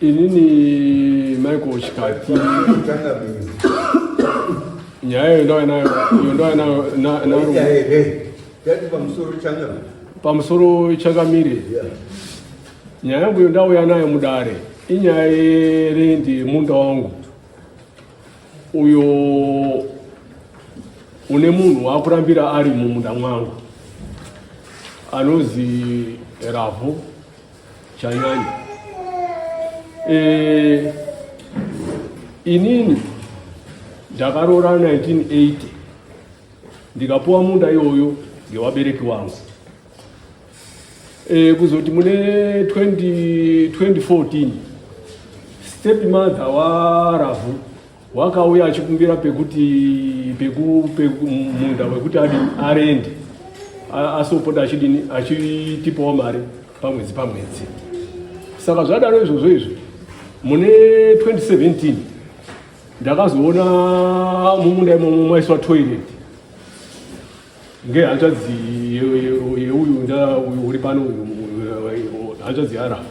Inini Michael Chikati nyaya iyo ndava nayo iyo ndava nayo na- na- Ita here? Tati pamusoro changa. pamusoro changamire nyaya yangu iyo ndauya nayo mudare inyaya yerendi yemunda wangu uyo une munhu waakurambira ari mumunda mwangu anozi ravhu chanyanya e, inini ndakaroora 1980 ndikapuwa munda iyoyo ngevabereki wangu e, kuzoti mune 2014 step mother waravhu Wakauya achikumbira pekuti peku peku munda wekuti adi arende asopota achidini achitipawo mari pamwedzi pamwedzi. Saka zvadaro izvozvo izvi mune 2017 ndakazoona mumunda imomo maiswa toilet ngehanzvadzi yeuyu nda uri pano uyu hanzvadzi yarafu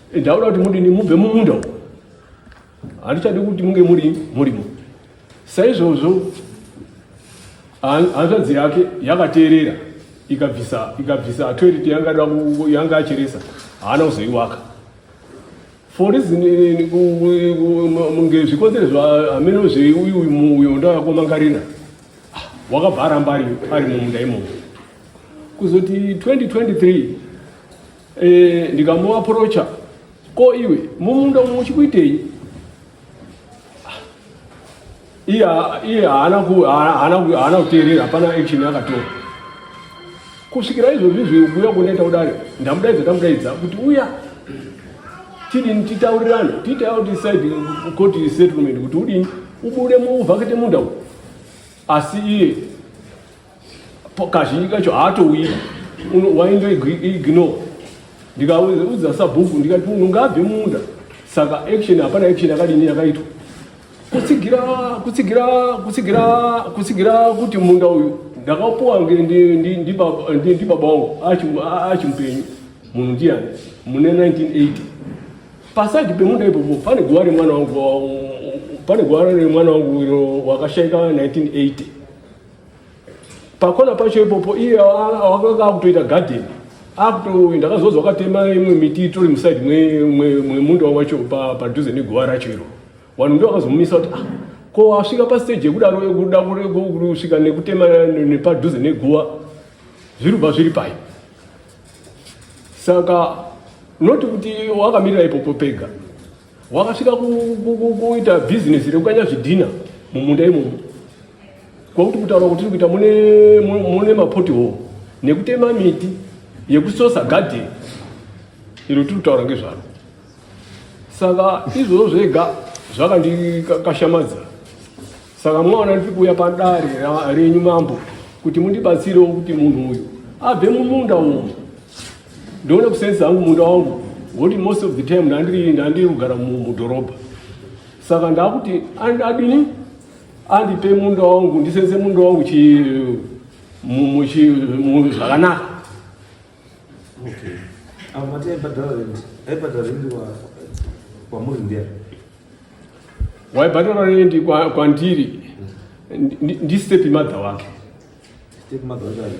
Ndaona kuti mudini mubve mumunda uko. Handichadi kuti munge muri murimo. Saizvozvo hanzvadzi yake yakateerera ikabvisa ikabvisa toilet yanga yanga acheresa haana kuzoiwaka for reason ngezvikonzero zvaameno zveuyu uyo ndakakomangarira ah, wakabva aramba ari mumunda imomo kuzoti 2023 Eh, ndikamuaprocha ko iwe mumunda umu muchikuitei iye iye haana ku- haana- haana ku- haana kuteerera hapana action yakatora kusvikira izvozvi zvekuuya kundaita kudare ndamudaidza ndamudaidza kuti uya tidini titaurirane titawo decide court settlement kuti udini ubude muvhakete munda umu asi iye kazhinji kacho haatouyi wainge ignore ndikaudza sabhuku ndikati munhu ngaabve munda saka action hapana action yakadini yakaitwa kutsigira kutsigira kutsigira kutsigira kuti munda uyu ndakapuwa ndibaba wangu achimupenyu munhu ndiyani mune 1980 pasaidi pemunda ipopo pane guva remwana wangu pane guva remwana wangu wakashaika 1980 pakona pacho ipopo iye akanga akutoita garden akuto ndakazonzwa akatema imwe miti itori musaidi mwemunda wacho padhuze neguva racho iro vanhu ndo vakazomumisa kuti ah ko asvika pastage yekudaro yekuda kusvika nekutema nepadhuze neguva zviri kubva zviri pai saka not kuti wakamirira ipopo pega Wakasvika kuita bhizinesi rekukanya zvidhina mumunda imomo kwakuti kutaura kuti tiri kuita mune mapoti hoo nekutema miti yekusosa gadheni iro tiri kutaura ngezvaro saka izvozvo zvega zvakandikashamadza saka mwaona ndiri kuuya padare renyu mambo kuti mundibatsirewo kuti munhu uyu abve mumunda umu Ndoona kusenza hangu munda wangu ngoti most of the time ndandiri ndandiri kugara mudhorobha saka ndakuti adini andipe munda wangu ndisenze munda wangu zvakanaka waibhadhara rendi kwandiri ndistep mother wake step mother wake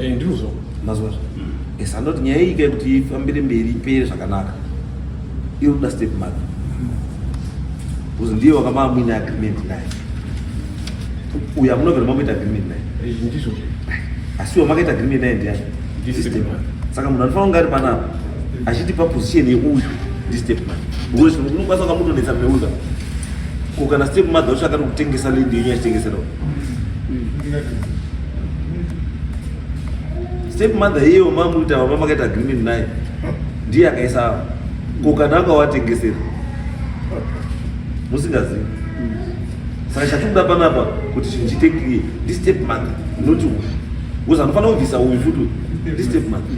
Eh, ndinozvo mazwa yes andoti nyaya iyi kai kuti ifambire mberi ipere zvakanaka iri kuda step mother bcause ndiye wakambaa muine agreement naye uyo amunovera mamboita agreement naye eh, ndizvo asi iwo makaita agreement naye ndiyani saka munhu anofanira kunge ari panapa achitipa position yeuyu ndistep mother unokwanisa kunga mutonetsa meuza Ko kana step mother wacho akati kutengesa land yenyu achitengesera. Step mother hiyo mamu ita mama makaita agreement naye. Ndiye akaisa. Ko kana akawatengesera. Musingazivi. Saka chatikuda panapa kuti chinhu chiite clear. Ndi step mother not uyu. Uza anofanira kubvisa uyu futi. Ndi step mother.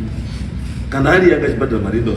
Kana ari yanga chibhadhara mari ndo.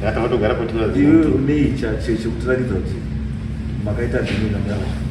Kana matogara kuti mwazi. Iwe unei cha che chekutirakidza kuti makaita zvimwe ngamera.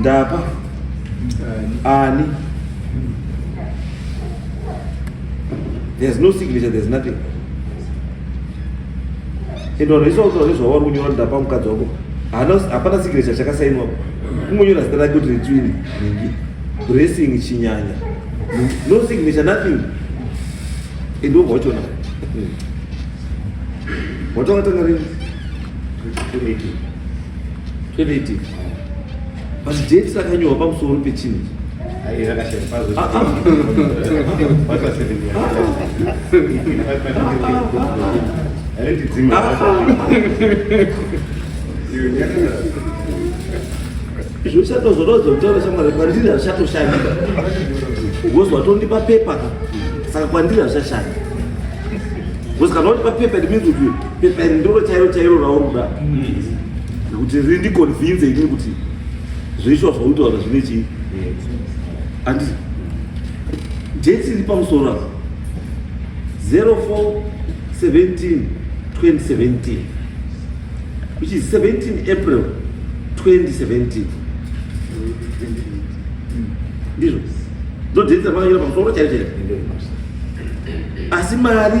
ndapa ani there's no signature there's nothing and vanhu vese vakutora nezvavari kunyora ndapa mukadzi wako hapana signature chakasainwapo kungonyora zita rake kuti ritswini nhingi dressing chinyanya no signature nothing and wobva wachona watongatanga rini 2018 but date rakanyorwa pamusoro pechinhu zvichato zvotozo kutaura shamwari kwandiri hazvichatoshanda bcause watondipa pepa ka saka kwandiri hazvichashanda bcause kana wandipa pepa it means kuti Pepa iri ndiro chairo chairo rauri kuda nekuti mm. rindiconvince inini kuti zveishuwa zvauri kutaura zvine chii andi date iri pamusoro apa 04 17 2017 which is 17 april 2017 ndizvo ndodate ramakanyora pamusoro chairo chairo asi mari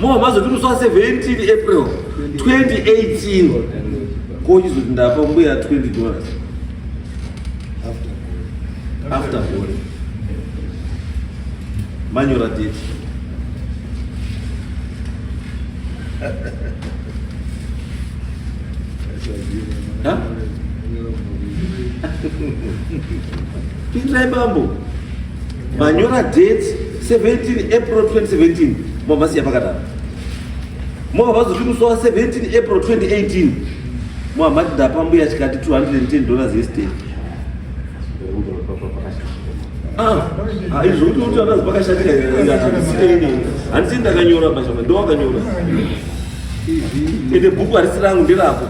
mobva mazoti musi wa 17 april 2018 ko chizoti ndapa mbuya 20 dollars after bore manyora date Huh? Pinzai bambo. Manyora date 17 April 2017 mwavasiya pakadaro mwava vazoti musi wa 17 April 2018 mwava mati ndapa mbuya chikati 210 dollars yesterday Ah, ah, izvo kuti kuti vakazi vakashatika handisi ndakanyora mashama ndo wakanyora ende bhuku harisi rangu nderako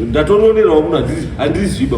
ndatononerawo munhu handiziba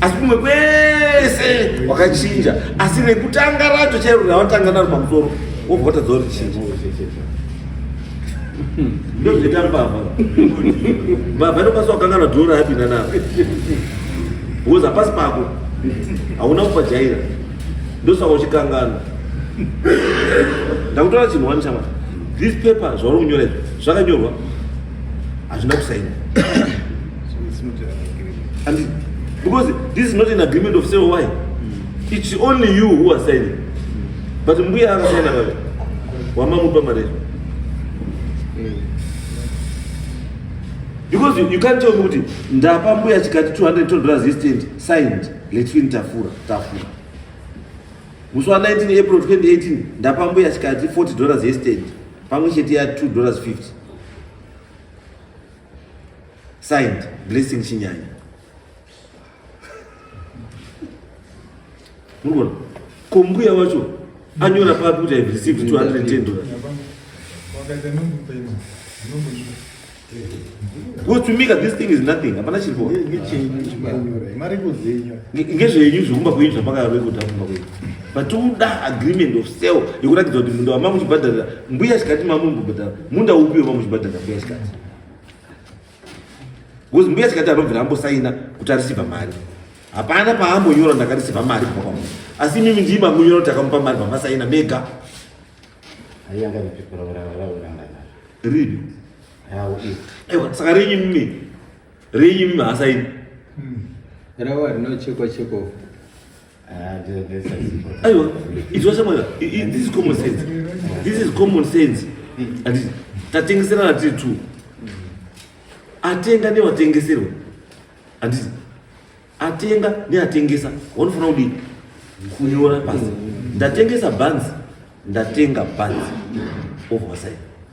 asi kumwe kwese wakachinja asi rekutanga racho chairo rawatanga naro pamusoro wobva watadza uri chii ndozvita mbavha mbavha inokwanisa kukanganwa dhora yapinda naro because hapasi pako hauna kupajaira ndosaka uchikanganwa ndakutora chinhu wani shamwari this paper zvauri kunyora izvi zvakanyorwa hazvina kusaina And because this is not an agreement of sale why mm. it's only you who are signing mm. but mbuya akasaina vave wamamupa mari mm. because you, you can't tell me kuti ndapa mbuya chikati 200 dollars yestand signed letwin tafura tafura musi wa 19 april 2018 ndapa mbuya chikati 40 dollars yestand pamwe chete ya 2 dollars 50 Signed, Blessing Chinyanya. Murikuona? Kombuya wacho anyora papi kuti I've received 210 dollars. Wakaita numbu payment. Numbu kutumika this thing is nothing hapana chiri kuona ngezvenyu zvekumba kwenyu zvamakaroe kuti akumba kwenyu but uda agreement of sale yekuratidza kuti munda wamamuchibhadharira mbuya chikati mamumbobhadhara munda upi wamamuchibhadharira mbuya chikati Because mbuya chikati anobvira ambosaina kuti arisiva mari. Hapana paambonyora ndakarisiva mari kubva kwamunhu. Asi imimi ndiye mamunyora kuti akamupa mari mamasaina mega. Ayanga kupikura varawo ranga naro. Ripi? Rawo iri. Ewa saka renyu mimi. Renyu mimi hasaini. Hmm. Rawo rinochekwa chekwa. Aiwa, it's what someone, this is common sense. This is common sense. Ati, tatengeserana tiri two. Atenga nevatengeserwa. Ati, atenga neatengesa. Wanofanira kudii? Kunyora pasi. Ndatengesa banzi, ndatenga banzi. Ovasaini.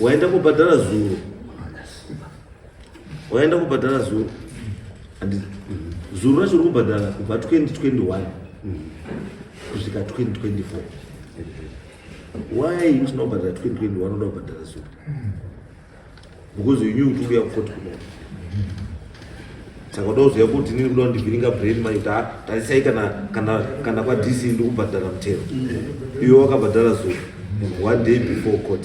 waenda kubhadhara zuro waenda kubhadhara zuro zuro racho uri kubhadhara kubva 2021 kusvika 2024 why usina kubhadhara 2020 wanoda kubhadhara so because you knew kuti uya kukoti kuno saka uda kuziva kuti nini kuda kundivhiringa brain mai kuti tarisai kana kana kana kwa dc ndi kubhadhara mutero iwe wakabhadhara so one day before court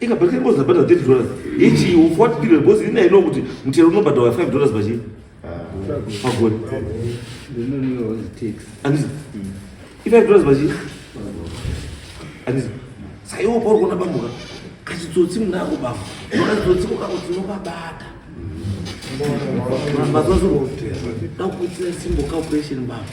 ikabhakira bozi rabhadha 30 dollars ichi of what period because ini aino kuti mutero unobhadhawa 5 dollars pachii pagore andizi i5 dollars pachii andizi saka iwo pauri kuona bambuka kachitsotsi munako bambo kachitsotsi kokako tinokabata mazuva so dakukuitira simbo calculation bambo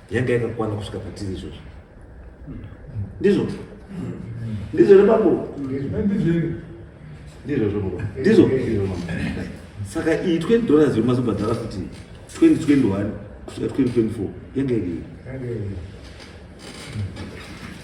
yanga yakakwana kusvika patiri izvozvo ndizvo ndizvo here bambo ndizvozvo ndizvo saka iyi 20 dollars yomazobhadhara kuti 2021 kusvika 2024 yanga iri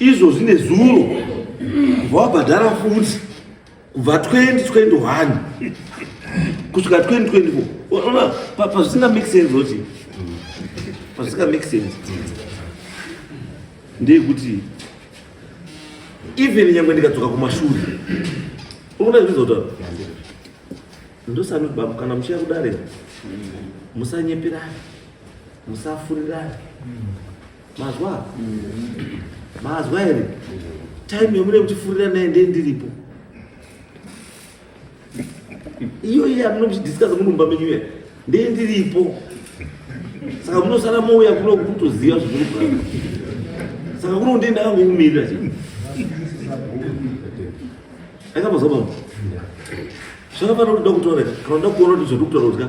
izvozvi nezuro kubva wabhadhara futi kubva 2021 kusvika 2024 ona pazvisinga make sense oti pazvisinga make sense ndeyekuti even nyangwe ndikadzoka kumashure unoda zvizota ndosani baba kana muchiya kudare musanyeperane musafurirane mazwa mazwa here time yomune kutifurira naye ndee ndiripo iyo iye amune kuchidiscusa munumba menyu iya ndee ndiripo saka munosara mouya kuno kutoziva zviri kugara saka kuno ndee ndakangokumirira chi akamazwa baba zvakafanira kuda kutaura kana uda kuona kuti zviri kutaura kuti ka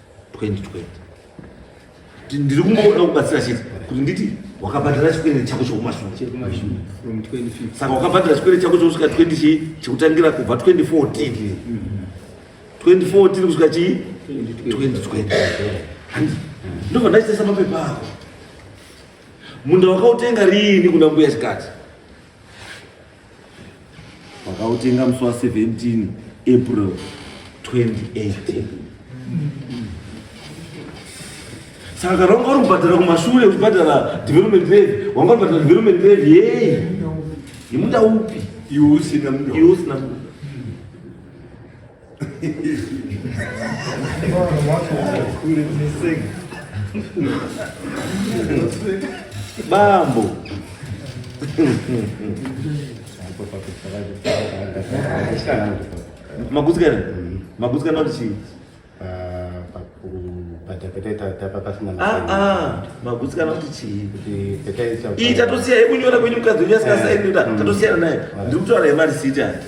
2020 ndiri kungoona kubatsira chete kuti nditi wakabhadhara chikwere chako chekumashure saka wakabhadhara chikwere chako chekusvika 20 chii chekutangira kubva 2014 2014 kusvika chii 2020 handi ndobva ndaitesa mapepa ako munda wakautenga riini kuna mbuya chikati vakautenga musi wa 17 april 2018 saka kana wanga uri kubhadhara kumashure uchibhadhara development levy wanga uri kubhadhara development levy yei yemunda upi iwe usina munda iwe usina munda Bambo. Magutsikana? Magutsikana kuti chii? magutsikana kuti chii iyi tatosiya yekunyora kwenyu mukadzi wenyu asikasainira tatosiyana naye ndiri kutaura yemarisiti ati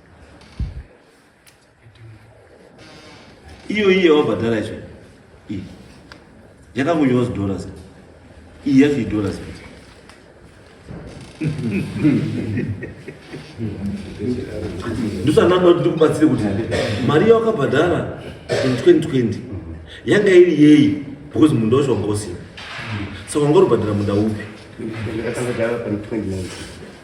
iyo iyi yawabhadhara yacho iyi yakangonyorwa zidollars iyi yacho idollars ndosandanda kuti ndikubatsire kuti mari yawakabhadhara 2020 yanga iri yeyi because munda wacho wanga usina saka wanga uribhadhara munda upi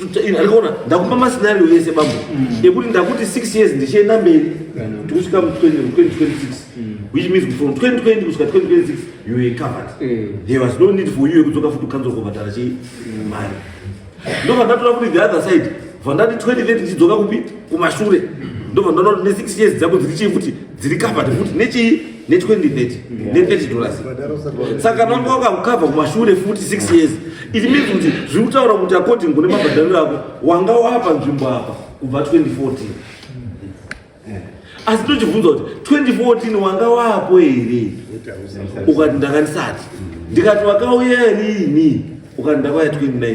ndikuona ndakupa mascenario yese bambo mm. ekuti ndakuti six years ndichienda mberi mm. tikusvika mu 2026 mm. which means from 2020 kusvika 2026 you were covered there was no need for you yekudzoka futi ukanzwa kubhadhara chei mari ndobva ndatora kuti the other side bva ndati 2030 ndichidzoka kupi kumashure ndobva ndataura kuti ne six years dzako dziri chii futi dziri covered futi nechii ne 2030 ne 30 dollars saka nonga wakakava kumashure futi 6 years it means kuti zviri kutaura kuti according kune mabhadhariro ako wanga wapa nzvimbo apa kubva 2014 asi tochibvunza kuti 2014 wanga wapo here ukati ndakandisati ndikati wakauya riini ukati ndakauya 2019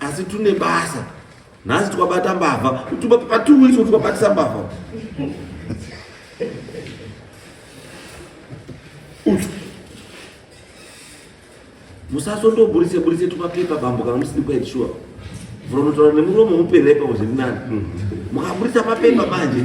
asi tune basa nhasi twabata mbavha patiuiso twabatisa mbavha musasondoburitse buritse tumapepa bambo kana musiri quite sure vhuronotaura nemuromo muperepa kuzvirinani mukaburitsa mapepa manje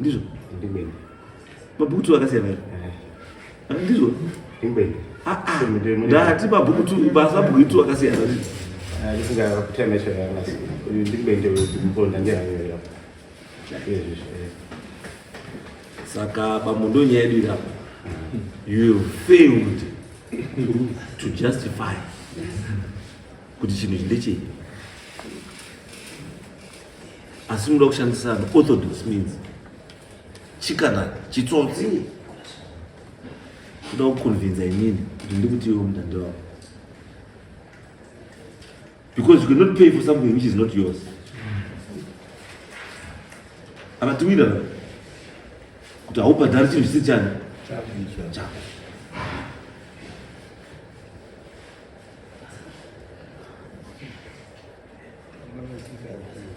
ndizvo ndimene mabhuku tu akasiyana eh. ah, ndizvo ndimene ah, ah. ndati mabhuku tu basa mabhuku tu akasiyana ndizvo saka pamundo nyaya yedu irapa you failed to justify kuti chinhu ichi ndechei asi muda kushandisa an orthodox means chikana chitsotsi kuda kuconvinza inini kuti ndikutiwo mudhandi wavo because you cannot pay for something which is not yours akatiwira kuti haubhadhari chinhu chisi chani chako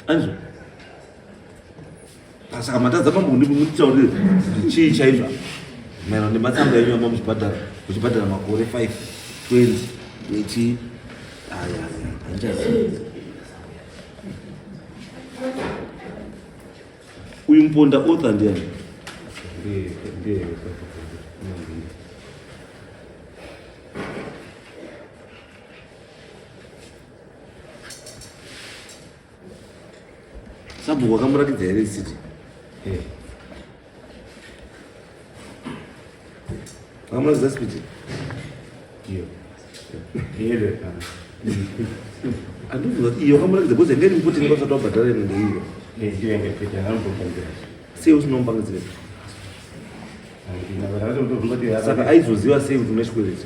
anzwa saka matadza mambo kundimutaurire chii chaizvo maerano nematsamba enyu amba muchibhadhara muchibhadhara makore 5 20 eti aya handichazivi uyu muponda otha ndiani sabhuku wakamuratidza here isiti eh. wakamuratidza spiti andiuza kuti iyo wakamuratidza bcause ngeri mkuti ngavasati wabhadhara ino ndeiyo sei usinombangidzire saka aizoziva sei kuti une chikwereti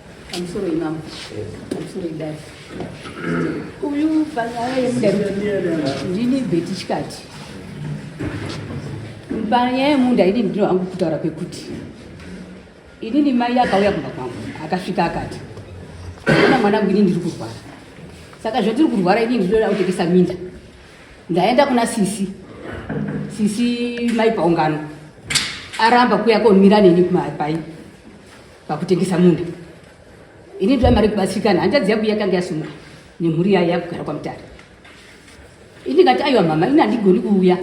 Pamusoro imambo. Pamusoro idai. Uyu panyaya yemunda ndini beti chikati. Panyaya yemunda ini ndino angu kutaura kwekuti inini mai akauya kumba kwangu akasvika akati ona mwanangu ini ndiri kurwara saka zvatiri kurwara ini ndinoda kutengesa minda ndaenda kuna sisi sisi mai paungano aramba kuya komira neni kumapai pakutengesa munda ini ndoda mari kubatsirikana hanzvadzi yangu yakanga yasumuka nemhuri yayo yakugara kwamutare ini ndikati aiwa mama ini handigoni kuuya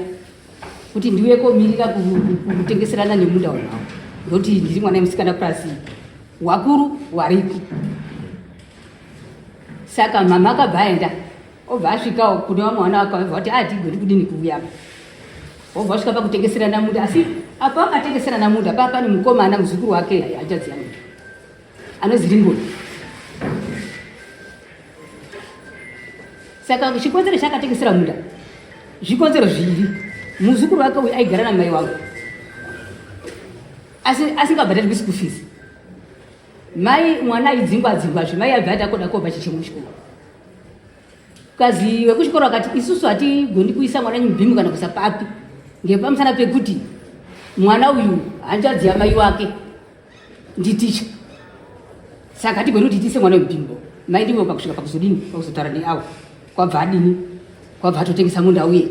kuti ndiuye komirira kutengeserana nemunda wanawo ndokuti ndiri mwana yemusikana plus wakuru wariko saka mama akabva aenda obva asvikawo kune vamwe vana vake vabva kuti atigoni ah, kudini kuuya apa obva asvika pakutengeserana munda asi apa akatengeserana munda paa pane mukomana muzukuru wake haichadziya munda anonzi ringoni saka chikonzero chaakatengesera munda zvikonzero zviviri muzukuru wake uyu aigara namai wangu asi asingabhadharirwi school fees mai mwana aidzingwa dzingwa zve mai abva ati akoda kopa chichemo chikuru Kazi wekuchikoro akati isusu hatigoni kuisa mwana nyubhimu kana kuisa papi ngepamusana pekuti mwana uyu hanzvadzi yamai wake nditicha saka hatigoni kuti tiise mwana webhimbo mai ndivo pakusvika pakuzodini pakuzotaura neawa kwabva adini kwabva atotengesa munda uye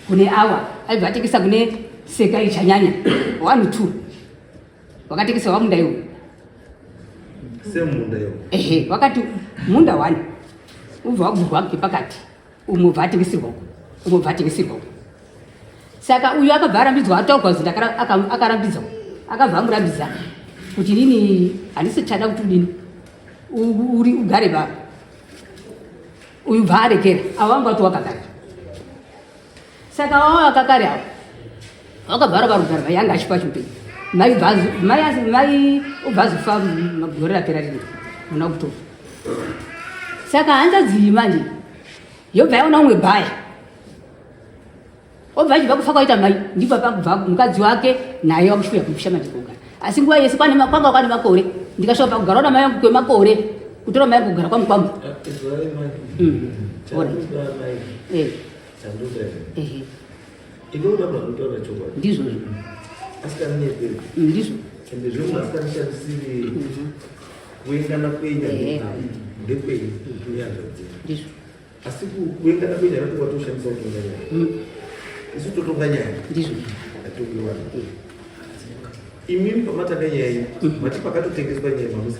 kune awa aibva atengesa kune seka ichanyanya one two wakatengeserwa munda iwo semunda iwo ehe wakati munda wani ubva wagurwa pakati umwe bva atengeserwa uko umwe bva atengeserwa uko saka uyu akabva arambidzwa ataurwa zita akarambidzwa akabva amurambidza kuti nini handisi chada kuti udini uri ugare baba uyu bva arekera avo vanga kuti wakagara saka vava vakakari avo vakabvara varugari vayanga achipa chipei mai mai ubvazifa gore rapera rino muna kuto saka hanzadzii manje yobva yaona umwe bhaya obva achibva kufa kwaita mai ndipo pakubva mukadzi wake naye wakushuya kupisha manje kugara asi nguva yese kwanga kwani makore ndikashuva pakugara ona mai yangu kwemakore kutora mai yangu kugara kwamukwambo eh, eh, Sanduka here? Ehe. Inoda baba kutaura chokwadi. Ndizvo izvo. Asikana nyeperi. Ndizvo. Ende zvimwe asikana shandisiri kuengana kwenya Ehe. ndekwenyu kunyazvadzira. Ndizvo. Asi ku- kuengana kwenya napo kwatoshandisa kutonga nyaya. Mm, Isu totonga nyaya. Ndizvo. Atongi vanhu. Imimi pamatanga nyaya iyi mati pakatotengeswa nyaya mamusi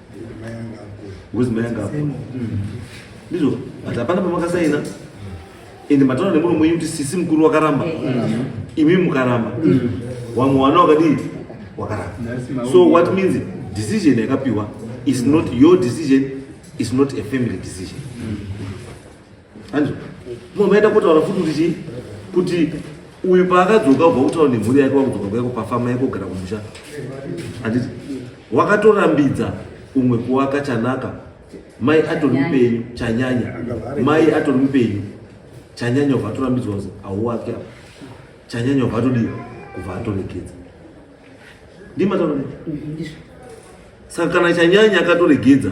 ngozi mai anga akura ndizvo but hapana pamakasaina ende mataura nemuno mwenyu kuti sisi mukuru wakaramba imi mukaramba wamwe wana wakadii wakaramba so what means decision yakapiwa is not your decision is not a family decision Hanzi mama aenda kotaura futi kuti chii kuti uyu paakadzoka ubva kutaura nemhuri yake wakudzoka kwaiko pafama yako kugara kumusha handiti wakatorambidza umwe kuwaka chanaka mai atori mupenyu chanyanya mai atori mupenyu chanyanya ubva atorambidzwa kuzi hauwake apa chanyanya ubva atodii kubva atoregedza ndimataura saka kana chanyanya akatoregedza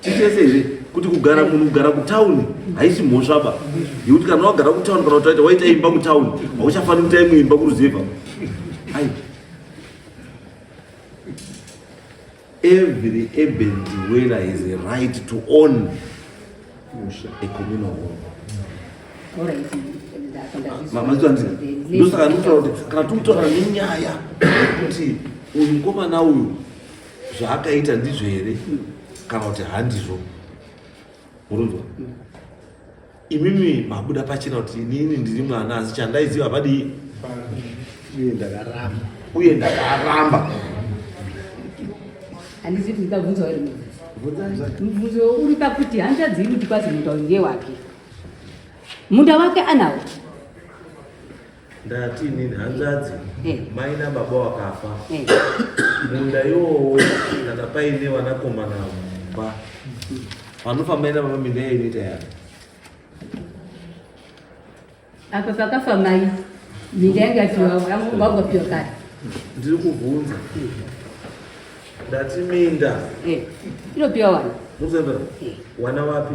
titese here kuti kugara munhu kugara kutauni haisi mhosva ba yekuti kana wagara kutauni kana kutaita waita imba kutauni hauchafaniri kuita imwe imba kuruziva ai every urban dweller has a right to own a communal home mazvitanzira ndosaka ndikutaura kuti kana tikutorana nenyaya yekuti uyu mukomana uyu zvaakaita ndizvo here kana kuti handizvo murinzwa imimi mabuda pachena kuti inini ndiri mwana asi chandaiziva padii uye ndakaramba uye ndakaramba handizivi kuti ndabvunza uri mubvunzo uri pakuti handichazivi kuti kwazi munda uyu ndewake munda wake anawo ndati nini hanzvadzi eh. mai nababa wakafa eh. munda iwowo kana paine vanakomana mumba vanofa mai nababa minda iyo inoita yavo apa pakafa mai minda yanga tiwavagopiwa kare ndiri kuvhunza ndati minda eh. inopiwa wana wana wapi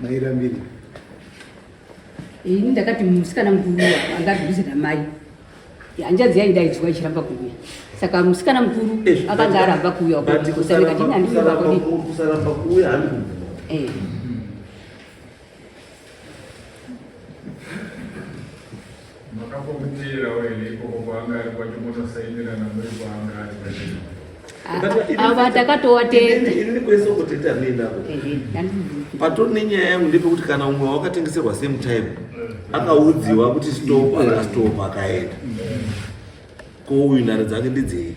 mairambiri ini ndakati musikana mukuru angadhuze namai hanjadzi yainge aidzwa ichiramba kuuya saka musikana mukuru akanga aramba kuuya Makafomutiyirawo here ikoko kwaanga ari kwacho motosaindirana muri kwaanga ari kwachino ava takatowa teeakuita neinavo patoni nenyaya yangu ndepekuti kana umwe wakatengeserwa same time akaudziwa kuti stop akastop akaenda ko uyu nhare dzake ndidzei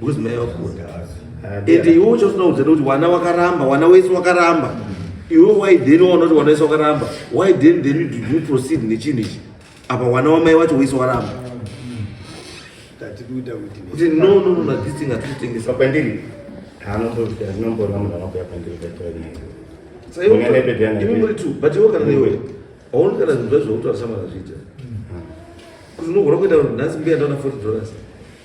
because mai vakunda ende iwe uchasinaudza kuti wana wakaramba wana wese wakaramba iwe why then waona kuti wana wese wakaramba why then then did you proceed nechinhu ichi apa wana wamai wacho wese waramba kuti no no no na this thing hatitengesa pandiri haanombora munhu anokuya pandiri saiwe tu but iwe kana iwe aoni kana zvinhu zvazvo kutaura samana zviita kuti unogona kuita nhasi mbuya ndaona 40 dollars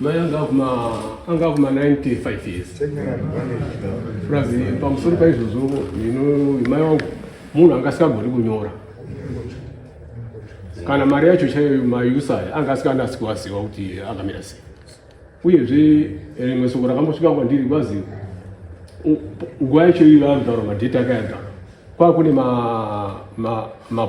mai anga kuma 95 years plus pamusoro paizvozvo mai wangu munhu anga asikagoni kunyora kana mari yacho chaiyo mausa aya anga asikanasi kuvaziva kuti akamira sei uyezve rimwe soko rakambosvika kwandiri kwazi nguva yacho iyo yaanogara madheti akayagara kwakune mabhondi ma, ma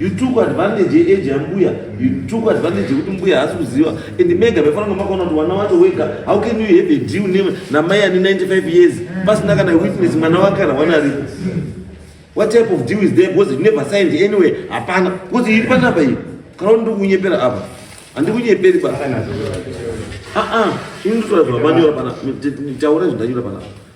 you took advantage yeage yambuya you took advantage yekuti mbuya haasi kuziva and mega maifanira kunge makaona kuti wana wacho wega how can you have a deal name namai ane 95 years pasina kana witness mwana wake kana wana aripo what type of deal is there because you never signed anyway hapana because iri panapa iyi kana kuti ndikunyepera apa handikunyeperi ba aa ah, ah. ini nditotaura zvamanyora panapa taura zvindanyora panapa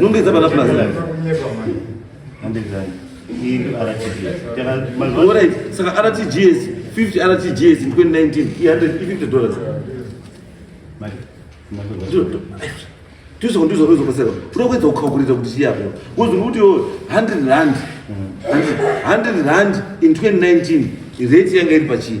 Nunde za bala plaza. Nunde za. Hii RTGS. All right. Saka RTGS 50 RTGS in 2019 350 dollars. Mali. Tuzo ndizo kuzo kusema. Tunakweza kukalkulate kuti chiya hapo. Kuzo kuti 100 rand. 100 rand in 2019 rate yanga iri pachii?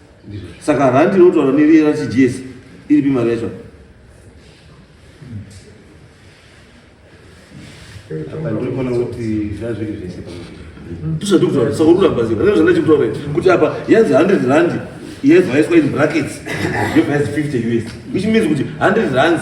saka randi inotaura neriye rachigs iripi mari yacho tisadikutaura saka ururambazira ree zvandachikutaura kuti apa yanzi 100 randi yevhaiswa in brackets yevhaisi 50 us which means kuti 100 rands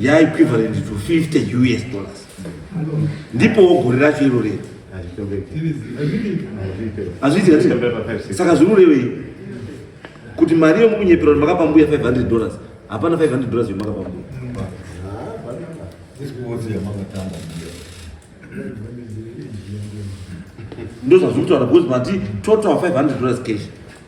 ya equivalent to 50 us dollars ndipo gore racho iro rei saka zvinorevei kuti mari yomukunyepera kuti makapa mbuya 500 dollars hapana 500 dollars yomakapa mbuya ndozvazviri kutaura because mati total 500 dollars cash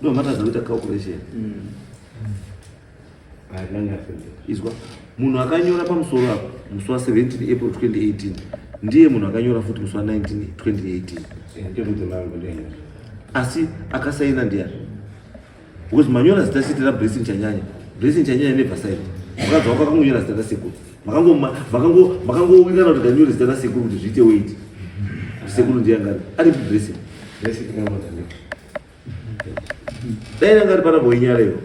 No, matter the little calculation. Mm. izwa munhu akanyora pamusoro apo musi wa 17 april 2018 ndiye munhu akanyora futi musi wa 19 2018 asi akasaina ndiyani because manyora zita siti ra blessing chanyanya blessing chanyanya nebva saini mukadzi wako akangonyora zita rasekuru makangowirana kuti ndanyore zita rasekuru kuti zviite weit sekuru ndiyangari ari blessing dai yanga ari pana boinyara ivo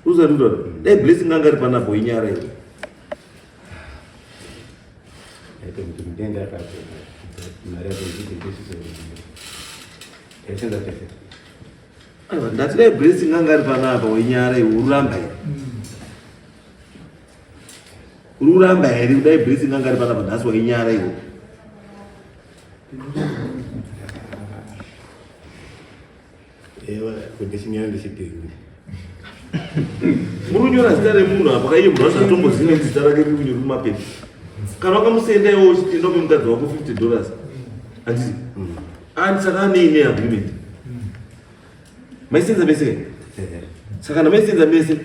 uzanindona dai blessing anga ari pana boinyara ivo ndati dai blessing anga ari panapa wenyara ivo ururamba here ururamba here kudai blessing anga ari panapa nhasi wainyara ivo Ewa, kuti chinyana ndichipingu. Muri kunyora zita remunhu apa kaiye munhu wacho atomboziva kuti zita rake riri kunyora mumapepa. Kana wakamusenda iwe uchienda upe mukadzi wako 50 dollars. Handiti? And saka ane ine agreement. Maisenza mese. Saka kana maisenza mese.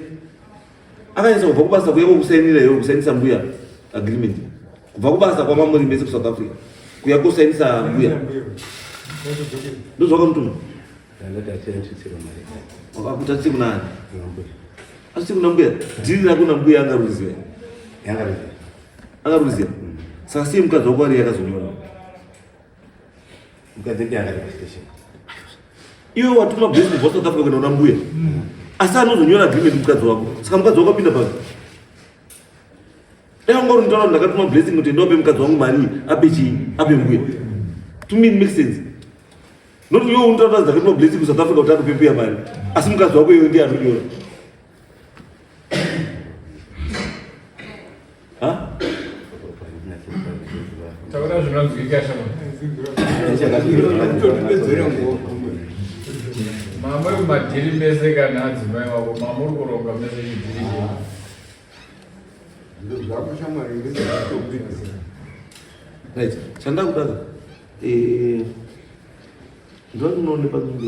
akanyatsa kubva kubasa kuya kokusainira iwe kusainisa mbuya agreement kubva kubasa kwamamuri mese kusouth africa kuya kosainisa mbuya ndozvakamutuma kuti atisi kunani atisi kuna mbuya dhiri rako na mbuya angaruziva angaruziva saka sei mukadzi wako ari yakazonyora Mukadzi ndiye akati pastation. Iwe watuma bhuku kubva South Africa kunoona mbuya. Asi anozonyora agreement mukadzi wako. Saka mukadzi wako apinda papi? Dai ungori mutaura ndakatuma blessing kuti ndope mukadzi wangu mari ape chii? Ape mbuya. To me it makes sense. Not iwe unotadza dzakatuma blessing ku South Africa kuti akupe mbuya mari. Asi mukadzi wako iwe ndiye anonyora. Taura zvinonzwika shama. Mama uri madhiri mese kana adzimai wako mama uri kuronga mese chidhiri zvako shamwari ndizvatobidzira right chandakudaza eh ndinoonekwa kunge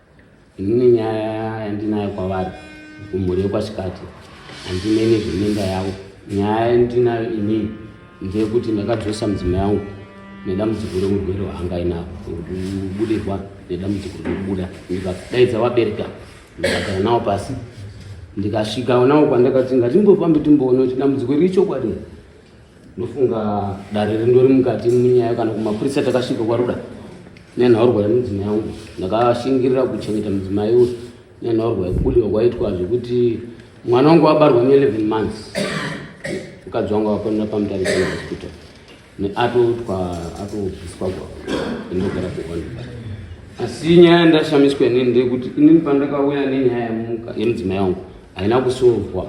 inini nyaya yandinayo kwavari kumhuri yekwachikati handine nezveminda yavo nyaya yandinayo inini ndeyekuti ndakadzosa mudzima yangu nedambudziko reurwere hwaanga inavo kubudirwa nedambudziko rekubuda ndikadaidza vabereka ndikagara navo pasi ndikasvika navo kwandakati ngatimbofambe timboona kuti dambudziko riri chokwadi ndofunga dare rindori mukati munyaya kana kumapurisa takasvika kwaruda nenhaurwa yemudzimai yangu ndakashingirira kuchengeta mudzimai uyu nenhaurwa yekubudiwa kwaitwa zvekuti mwana wangu wabarwa ne11 months mukadzi wangu akonera pamutarisana hospital neatotwa atobviswa kwa indogara kuona asi nyaya ndashamiswa inini ndeyekuti inini pandakauya nenyaya yemudzimai yangu haina kusovwa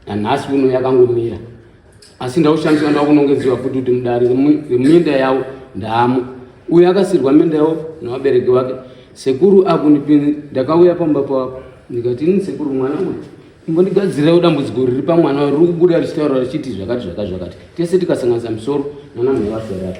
nanhasi uno yakangomira asi ndaushandiswa ndakunongeziwa futi kuti mudare reminda yavo ndamo uye akasirwa minda yavo nevabereki vake sekuru akunipinzi ndakauya pamba pavo ndikati ini sekuru mwana uyu imbondigadzirirawo dambudziko riri pamwana riri kubuda richitaura richiti zvakati zvakati zvakati tese tikasanganisa misoro nanamhevasarapa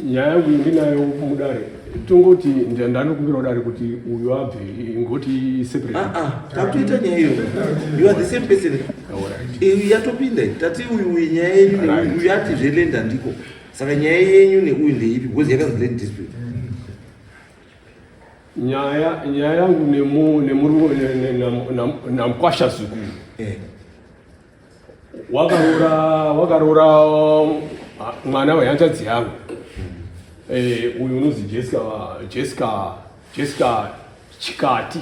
nyaya yangu ndinayo mudare tongoti ndanokumbirawo dare kuti uyu abve ingoti separetakuita ah, ah, nyaya iyo you are the same person eh, yatopinda tati uyu uyu nyaya yenyu uyu ati zvelenda ndiko saka nyaya yenyu neuyu ndeipi because yakanzi land dispute nyaya nyaya yangu nemurume namkwasha zukuru eh. wakaroora wakaroora mwana wehanzvadzi yangu eh, uyu unonzi jessica jessica jessica chikati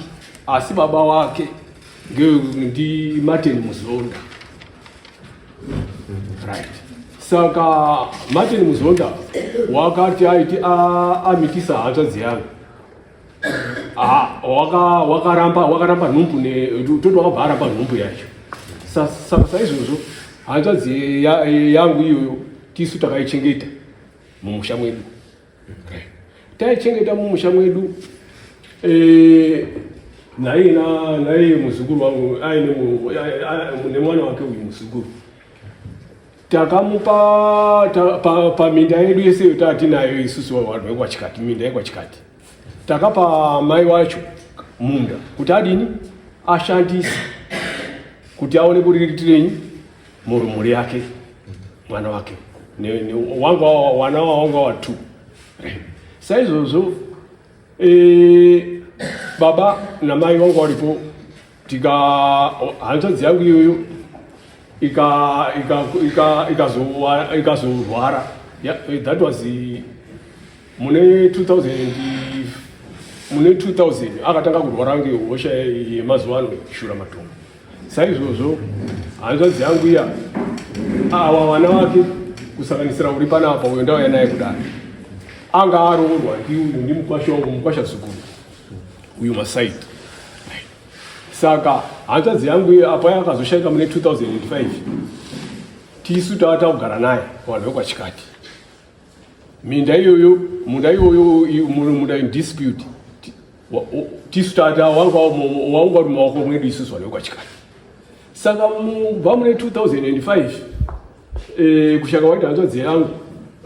asi baba wake ndi martin muzonda right saka martin muzonda wakati aiti amitisa hanzvadzi yangu Ah, waka wakaramba wakaramba nhumbu ne toti wakabva aramba nhumbu yacho saka saizvozvo hanzvadzi yangu iyoyo tisu takaichengeta mumusha mwedu taichengeta mumusha mwedu eh, naiye naiye muzukuru wangu aine nemwana wake uyu muzukuru takamupa paminda pa, pa yedu yese yota atinayo isusu vanhu vekwachikati minda yekwachikati takapa mai wacho munda kuti adini ashandise kuti aone kuriritirei mhuri yake mwana wake wanga wana wanga watu saizvozvo e, baba namai vanga varipo tika hanzvadzi yangu iyoyo ikazorwara eh, that was mune 2000 mune 2000 akatanga kurwara ngehosha yemazuva ano shura matongo saizvozvo hanzvadzi yangu iya awa vana vake kusanganisira uri panapa uyo ndauya naye kudai anga aroorwa ndimukwasha wangu mukwasha zukuru uyu masai saka hanzvadzi yangu iyo apa yakazoshaika mune 2005 tisu tava takugara naye vanhu vekwachikati minda iyoyo munda iyoyo munda indispute tisu tata wanga waunga uri maoko mwedu isusu vanhu vekwachikati saka mubva mune 2005 eh, kushaka waita hanzvadzi yangu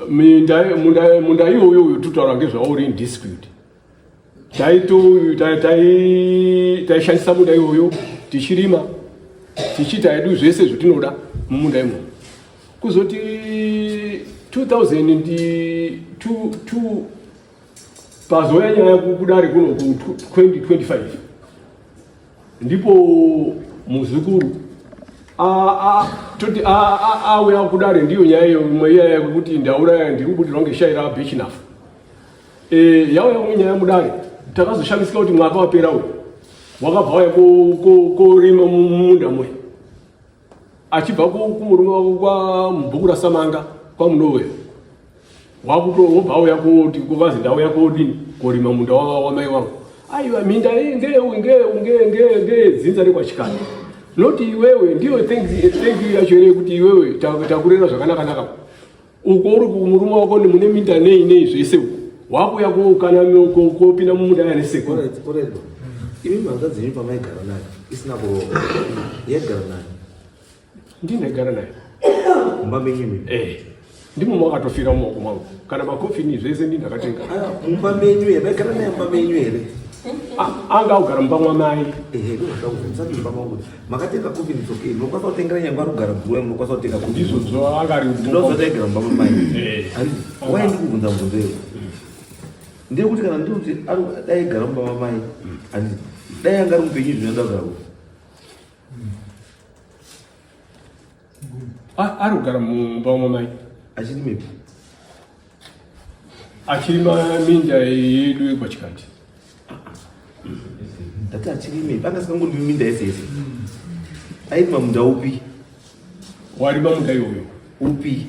munda iyoyo uyo tutaura ngezvawo uri indispute taishandisa munda iyoyo tichirima tichiita hedu zvese zvatinoda mumunda imomo kuzoti 2002 pazouya nyaya kudare kuno ku 2025 ndipo muzukuru toti auya kudare ndiyo nyaya iyo imwe iyaya yekuti ndauraya ndiri kubudirwa ngeshai rabechinafu Eh, yauya kunge nyaya mudare takazoshamisika kuti mwaka wapera uyu wakabva waya korima mumunda muya achibva kumurume wako kwamubhuku rasamanga kwamunowe wobva auya koti kuvazi ndauya kodini korima munda wamai wangu aiwa minda ngeedzinza rekwachikana noti iwewe ndiyo thank you yacho here kuti iwewe takurera zvakanakanaka uko uri kumurume wako mune minda nei nei zvese uko wakuya kokana kopinda mumuda kana seko imi mhanga dzenyu pamaigara nayo isina kurova yaigara nayo ndii ndaigara nayo mumba menyu mi eh, ndimo makatofira mumaoko mangu kana makofini zvese ndii ndakatenga ah, mumba menyu here maigara nayo mumba menyu here ah, anga augara mumba mwamai makatenga coffin it's okay munokwanisa kutengera nyangwa rugara guru munokwanisa kutenga coffin ndizvo zvaanga ari ndozotengera mumba mamai eh. why ndikubvunza mubvunzo iyo ndiri kuti kana ndiri kuti dai gara mumba mamai andi dai anga ari mupenyu zvinoda kugara ari kugara mumba umwe mai achiri mepi achiri maminda yedu yekwachikati ndati achiri mepi anga sikangondi minda yese yese aiti mamunda upi wari mamunda iwoyo upi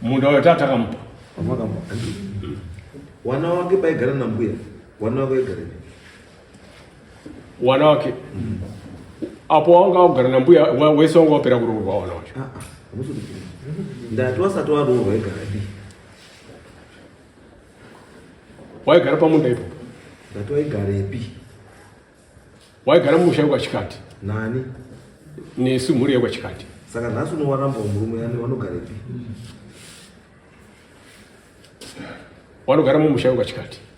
munda wayo tatakamupa wamakamupa wana wake baigara nambuya wana wake waigara wana wake mm. apo wanga wagara nambuya wese wanga wapera kuroorwa wana wacho ah, ah, ndati wasati waroorwa wegarapi waigara pamunda ipo ndati waigarepi waigara mumusha wekwachikati nani nesu mhuri yekwachikati saka nhasi unowaramba murume yani wanogarepi wanogara mumusha wekwachikati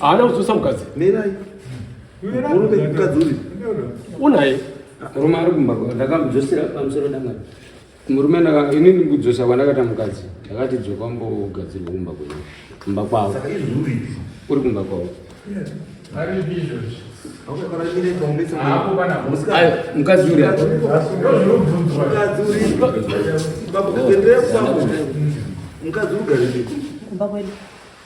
haana kudzosa mukadzi mirai murume mukadzi uri unaye murume ari kumba ndakamudzosera pamusoro dangani murume ini ndikudzosa kwandakata mukadzi ndakati dzoka mbogadzirwa kumba kwenyu kumba kwavo uri kumba kwavo mukadzi uri mukadzi ugariikumba kwedu